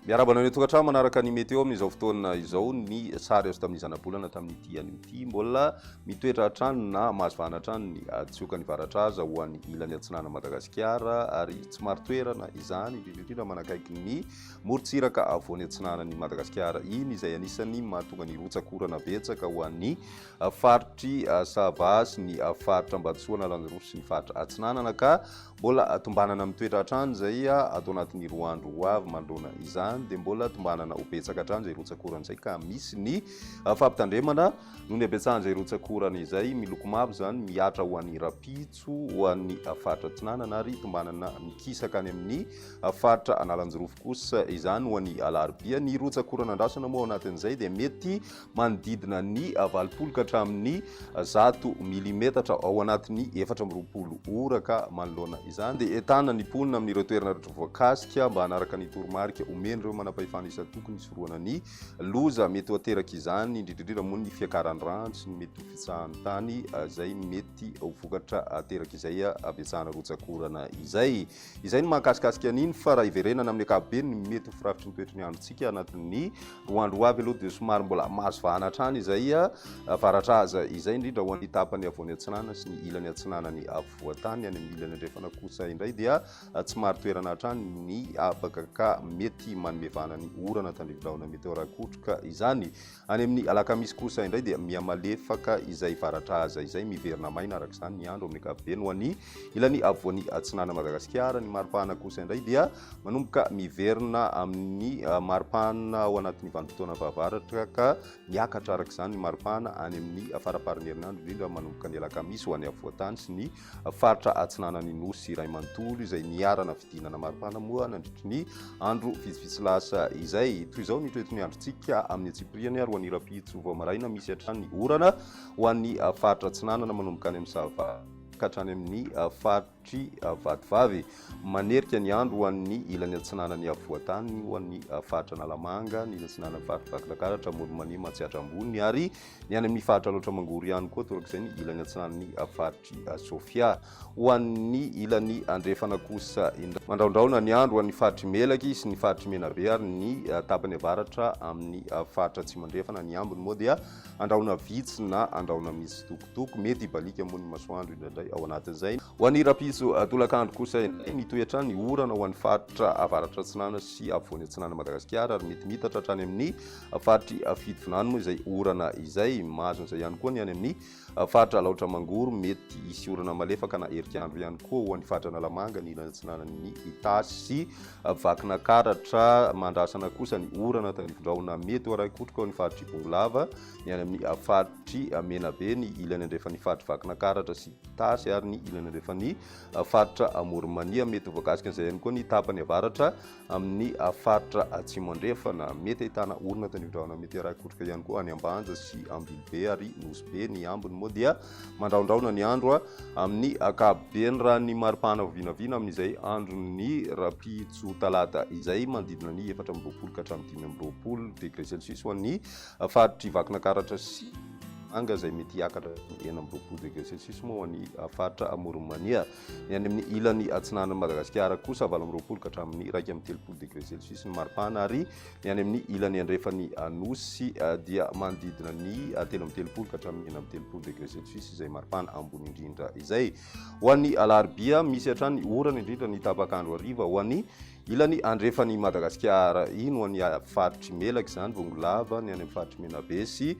Miarahaba anareo tokantrano manaraka ny météo amin'izao fotoana izao ny sary azo tamin'ny zanabolana tamin'ity an'ity mbola mitoetra hatrany na mahazivana hatrany ny tsioka ny varatra aza ho an'ny ilany atsinana Madagasikara ary tsy maro toerana izany indrindra indrindra manakaiky ny Morontsiraka afovoany atsinanan'i Madagasikara iny izay anisan'ny mahatonga ny rotsak'orana betsaka ho an'ny faritr'i Sava sy ny faritra Ambatosoa Analanjirofo sy ny faritra Atsinanana ka mbola tombanana mitoetra hatrany izay ato anatin'ny roa andro ho avy manoloana izany dia mbola tombanana ho betsaka hatrany izay rotsak'orana izay ka misy ny fampitandremana noho ny habetsahan'izay rotsak'orana izay miloko mavo izany mihatra ho an'i Rapi soa ho an'ny faritra Atsinanana ary hitombanana mikisaka any amin'ny faritra Analanjirofo kosa izany ho an'ny alarobia. Ny rotsak'orana andrasana moa ao anatin'izay dia mety manodidina ny valopolo ka hatramin'ny zato milimetatra ao anatin'ny efatra amby roapolo ora ka manoloana izany dia entana ny mponina amin'ireo toerana rehetra voakasika mba hanaraka ny toromarika omen'ireo manam-pahefana isan-tokony hisorohana ny Loza mety ho ateraka izany, indrindra indrindra moa ny fiakaran'ny rano sy ny mety ho fitsahan'ny tany izay mety ho vokatra ateraka izay habetsahana rotsak'orana izay. Izay no mahakasikasika an'iny fa raha hiverenana amin'ny ankapobeny ny mety ho firafitry ny toetry ny androntsika anatin'ny roa andro ho avy aloha dia somary mbola mahazo vahana hatrany izay varatra aza izay, indrindra ho an'ny tapany afovoany atsinanana sy ny ilany atsinanany afovoan-tany. Any amin'ny ilany andrefana kosa indray dia. Tsy marin-toerana hatrany ny habaka ka mety manome vahana ny orana tandrivi-drahona meteora-kotroka izany. Any amin'ny alakamisy kosa indray dia mihamalefaka izay varatra aza izay miverina maina araka izany ny andro amin'ny ankapobeny ho an'ny ilany afovoany atsinanan'i Madagasikara. Ny maripana kosa indray dia manomboka miverina amin'ny maripana ao anatin'ny vanim-potoana fahavaratra ka miakatra araka izany ny maripana any amin'ny faramparan'ny herinandro indrindra manomboka ny alakamisy ho any afovoan-tany sy ny faritra atsinanan'ny Nosy iray manontolo izay niharana fidinana maripana moa nandritry ny andro vitsivitsy lasa izay. Toy izao ny toeton'ny androntsika amin'ny antsipiriany ary ho an'ny rahampitso vao maraina misy hatrany ny orana ho an'ny faritra atsinanana manomboka any amin'ny Sava ka hatrany amin'ny faritry Vatovavy. Manerika ny andro ho an'ny ilany atsinanan'ny afovoantany ho an'ny faritra Analamanga, ny ilany atsinanan'ny faritra Vakinankaratra, Amoron'i Mania, Matsiatra Ambony ary Ny any amin'ny faritra Alaotra Mangoro ihany koa torak'izay ny ilany atsinanan'ny faritr'i Sofia. Ho an'ny ilany andrefana kosa indray, mandraondraona ny andro ho an'ny faritr'i Melaky sy ny faritr'i Menabe ary ny tapany avaratra amin'ny faritra Atsimo Andrefana. Ny ambiny moa dia andrahona vitsy na andrahona mitsitokotoko, mety hibaliaka moa ny masoandro indraindray ao anatin'izay. Ho an'ny rahampitso tolakandro kosa indray, mitohy hatrany ny orana ho an'ny faritra avaratra atsinanana sy afovoany atsinanan'i Madagasikara ary mety miitatra hatrany amin'ny faritry Fitovinany moa izay orana izay. Mahazo an'izay ihany koa ny any amin'ny faritra Alaotra Mangoro, mety hisy orana malefaka na herik'andro ihany koa ho an'ny faritra Analamanga, ny ilany atsinanan'ny Itasy sy Vakinakaratra. Mandrasana kosa ny orana tahirin-drahona mety ho arahin-kotroka ao amin'ny faritry Bongolava, ny any amin'ny faritry Menabe, ny ilany andrefan'ny faritry Vakinakaratra sy Itasy ary ny ilany andrefan'ny faritra Amoronmania. Mety ho voakasika an'izay ihany koa ny tapany avaratra Amin'ny faritra Atsimo Andrefana, mety ahitana orana tandrindraona meteoraikotroka ihany koa any Ambanja sy Ambilobe ary Nosy Be. Ny ambiny moa dia mandrahondrahona ny andro amin'ny ankapobeny raha ny mari-pahana vao vinavina amin'izay andron'ny rahampitso talata izay, manodidina ny efatra amby roapolo ka hatramin'ny dimy amby roapolo degré celsius ho an'ny faritr'i Vakinakaratra sy Mahajanga izay mety hiakatra hatramin'ny enina amby roapolo degré celsius moa ho an'ny faritra Amoron'i Mania. Ny any amin'ny ilany atsinanan'i Madagasikara kosa valo amby roapolo ka hatramin'ny iraika amby telopolo degré Celsius ny maripana ary ny any amin'ny ilany andrefan'ny Anosy eh, dia manodidina ny eh, telo amby telopolo ka hatramin'ny enina amby telopolo degré Celsius izay maripana ambony indrindra izay. Ho an'ny alarobia, misy hatrany orana indrindra ny tapak'andro hariva ho an'ny ilany andrefan'i Madagasikara. Iny ho an'ny faritry Melaky izany, Bongolava, ny any amin'ny faritry Menabe sy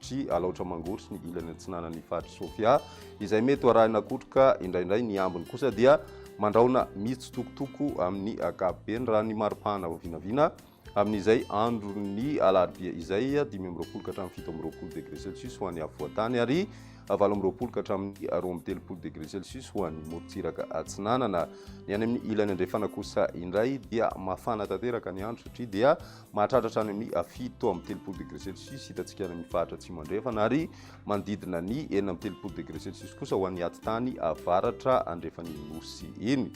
Tri Alaotra Mangoro sy ny ilany atsinanan'ny Faritr'i Sofia, izay mety ho arahina kotroka indraindray, ny ambiny kosa dia mandrahona mitsitokotoko amin'ny ankapobeny, raha ny mari-pahana vao vinavina, amin'izay andron'ny alarobia izay, dimy amby roapolo ka hatramin'ny fito amby roapolo degre celsius ho an'ny afovoan-tany ary valo amby roapolo ka hatramin'ny roa amby telopolo degre celsius ho an'ny morontsiraka atsinanana. Ny any amin'ny ilany andrefana kosa indray dia mafana tanteraka ny andro satria dia Mahatratra hatrany amin'ny fito amby telopolo degré celsius hitantsika any amin'ny faritra atsimo andrefana ary manodidina ny enina amby telopolo degré celsius kosa ho an'ny atitany avaratra andrefan'ny nosy iny.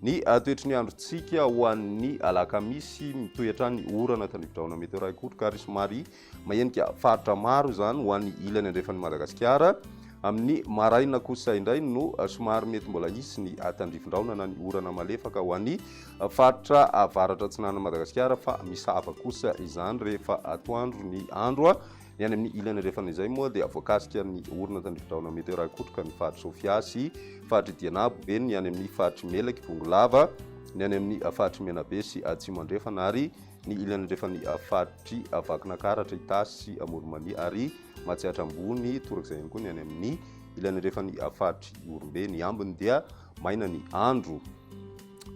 Ny ah, toetry ny androntsika ho an'ny alakamisy mitohy hatrany orana tandrividraona meteora ikotroka ary somary mahenika faritra maro izany ho an'ny ilany andrefan'ny Madagasikara. Amin'ny maraina kosa indray no ah, somary mety mbola hisy ny ah, tandrivindraona na ny orana malefaka ho an'ny faritra avaratra atsinanan'i Madagasikara fa misava kosa izany rehefa atoandro ny andro. Ny any amin'ny ilany andrefana izay moa dia voakasika ny orina tandrividraona meteorahikotroka ny faritry Sofia sy faritry Dianabo be ny any amin'ny faritry Melaky, Bongolava, ny any amin'ny faritry Menabe sy Atsimo Andrefana ary ny ilany andrefan'ny faritry Vakinankaratra, Itasy sy Amoromania ary Matsiatra Ambony, torak'izay ihany koa ny any amin'ny ilany andrefan'ny faritry Ihorombe. Ny ambiny dia maina ny andro.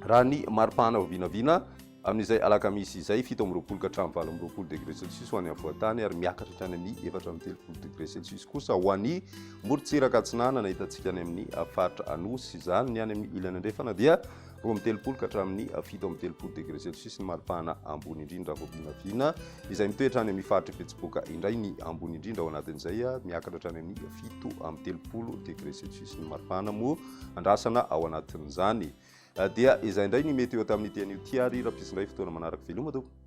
Raha ny mari-pahana vao vinavina, amin'izay alakamisy izay, fito amby roapolo ka hatramin'ny valo amby roapolo degré celsius ho an'ny afovoan-tany ary miakatra hatrany amin'ny efatra amby telopolo degré celsius kosa ho an'ny morontsiraka atsinanana. Hitantsika any amin'ny faritra Anosy izany. Ny any amin'ny ilany andrefana dia roa amby telopolo ka hatramin'ny fito amby telopolo degré celsius ny mari-pahana ambony indrindra vao vinavina. izay mitoetra any amin'ny faritr'i Betsiboka indray ny ambony indrindra ao anatin'izay miakatra hatrany amin'ny fito amby telopolo degré celsius ny maripana moa andrasana ao anatin'izany ah, dia izay indray ny mety eo tamin'ny tian'io tiary rapisindray fotoana manaraka veloma tompoko